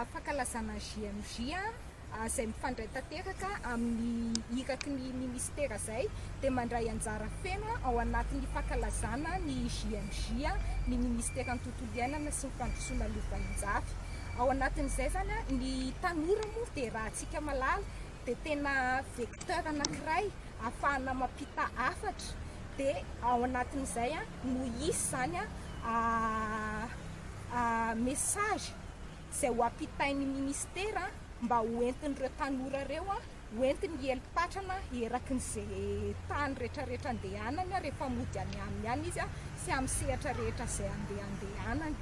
Fankalazana JMJ izay mifandray tanteraka amin'ny iraky ny Ministera izay dia mandray anjara feno ao anatin'ny fankalazana ny JMJ ny Ministeran'ny Tontolo Iainana sy ny Fandrosoana Lovaninjafy. Ao anatin'izay izany ny tanora moa dia raha antsika malala dia tena vecteur anankiray ahafahana mampita hafatra dia ao anatin'izay no hisy izany message izay ho ampitain'ny ministera mba ho entin'ireo tanora ireo ho entiny hiely patrana eraky ny izay tany rehetrarehetra andehanany rehefa mody any aminy any izy sy amin'ny sehatra rehetra izay andehandehanany.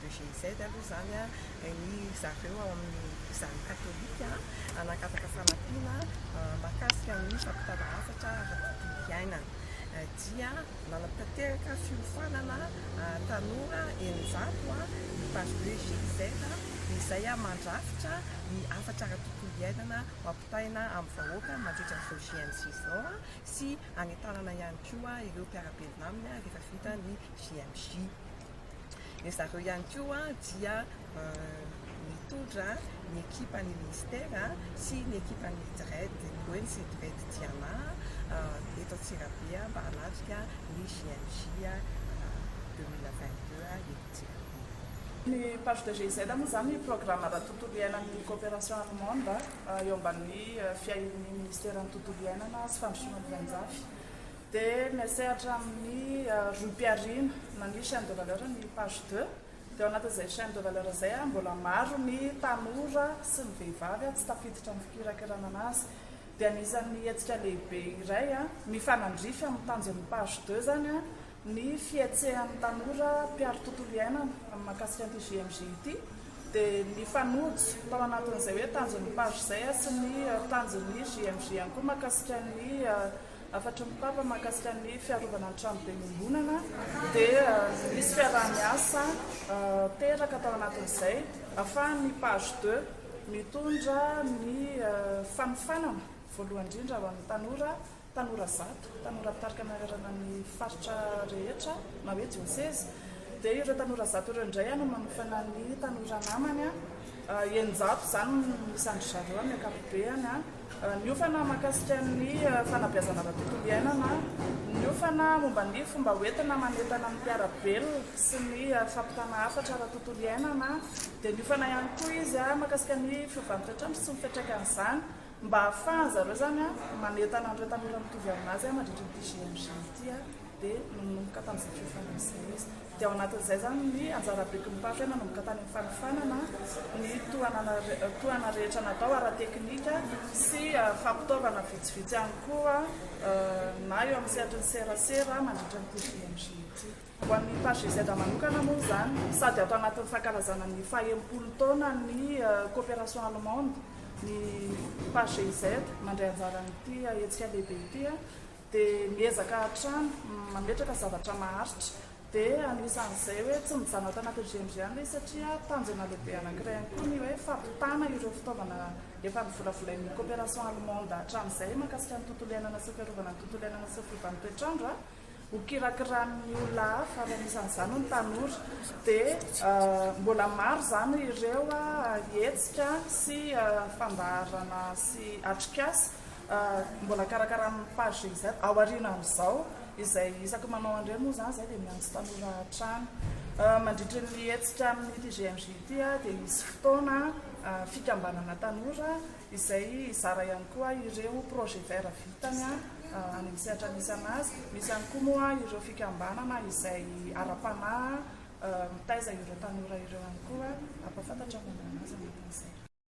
de GIZ aloha izany an, ny zareo ao amin'ny zan'ny katolika hanakataka fanampiana mahakasika ny fampitana hafatra ara-tontolo iainana dia nanatanteraka fiofanana tanora eninjato ny Paribe GIZ izay mandrafitra ny hafatra ara-tontolo iainana ho ampitaina amin'ny vahoaka mandritra izao GMJ izao sy hanentanana ihany koa ireo mpiara-belona aminy rehefa vita ny GMJ. Ry zareo ihany koa dia nitondra ny ekipan'ny minisitera sy ny ekipan'ny Dred, Boeny sy Dred Tiana, eto Antsirabe mba hanatrika ny JMJ 2022 eto Antsirabe. Ny Page de GIZ moa izany programa ara-tontolo iainan'ny Coopération Allemande eo ambanin'ny fiahian'ny Minisiteran'ny Tontolo iainana sy Fandrosoana Boahanjafy. Dia miasehatra amin'ny rohim-pihariana nania chaine de valeur ny page deux. Dia ao anatin'izay chaine de valeur izay, mbola maro ny tanora sy ny vehivavy tsy tafiditra amin'ny fikirakirana an'azy. Dia anisan'ny hetsika lehibe iray mifanandrify amin'ny tanjon'ny page deux izany ny fihetsehan'ny tanora mpiaro tontolo iainana amin'ny mahakasika an'ity JMJ ity. Dia nifanojo tao anatin'izay hoe tanjon'ny page izay sy ny tanjon'ny JMJ ihany koa mahakasika ny Hafatry ny Papa mahakasika ny fiarovana ny tranoben'ny iombonana dia nisy fiaraha-miasa teraka tao anatin'izay ahafahan'ny Page de mitondra ny fanofanana voalohany indrindra ho an'ny tanora, tanora zato, tanora mpitarika manerana ny faritra rehetra na hoe dioseza, dia ireo tanora zato ireo indray no manofana ny tanora namany, eninjato izany no isan-dry zareo amin'ny ankapobeny. Niofana mahakasika ny fanabeazana ara-tontolo iainana, niofana momba ny fomba hoentina manentana ny mpiara-belona sy ny fampitana hafatra ara-tontolo iainana, dia niofana ihany koa izy mahakasika ny fiovan'ny toetr'andro sy ny fiantraikan'izany mba hahafahan-dry zareo izany manentana an'ireo tanora mitovy amin'azy mandritra ity GMG ity, dia nanomboka tamin'izay fiofana izay izy. dia ao anatin'izay izany ny anjara beky ny mpampiana nanomboka tany amin'ny fanofanana ny tohanana tohana rehetra natao ara-teknika sy fampitaovana vitsivitsy ihany koa na eo amin'ny sehatry ny serasera mandritra ny TJMJ ity. Ho an'ny PAJZ manokana moa izany, sady ato anatin'ny fankalazana ny fahenimpolo taonan'ny coopération allemande ny PAJZ mandray anjara amin'ity hetsika lehibe ity. dia miezaka hatrany mametraka zavatra maharitra dia anisan'izay hoe tsy mijanona ato anatin'ny GMG ihany ilay izy satria tanjona lehibe anankiray ihany koa ny hoe fampitana ireo fitaovana efa novolavolain'ny coopération allemande hatramin'izay mahakasika ny tontolo iainana sy fiarovana ny tontolo iainana sy fiovan toetr'andro ho kirakiran'ny olona hafa ary anisan'izany ny tanora dia euh, mbola maro izany ireo hetsika sy euh, fandaharana sy atrikasa Mbola karakarain'ny page GIZ aoriana amin'izao, izay isaky manao an'ireny moa izany izahay dia miantso tanora hatrany. Mandritra ny hetsika amin'ity GMJ ity dia hisy fotoana fikambanana tanora izay hizara ihany koa ireo projet vert vitany amin'ny sehatra misy an'azy. Misy ihany koa moa ireo fikambanana izay ara-panahy mitaiza ireo tanora ireo ihany koa hampahafantatra ny momba an'azy ny orinasa.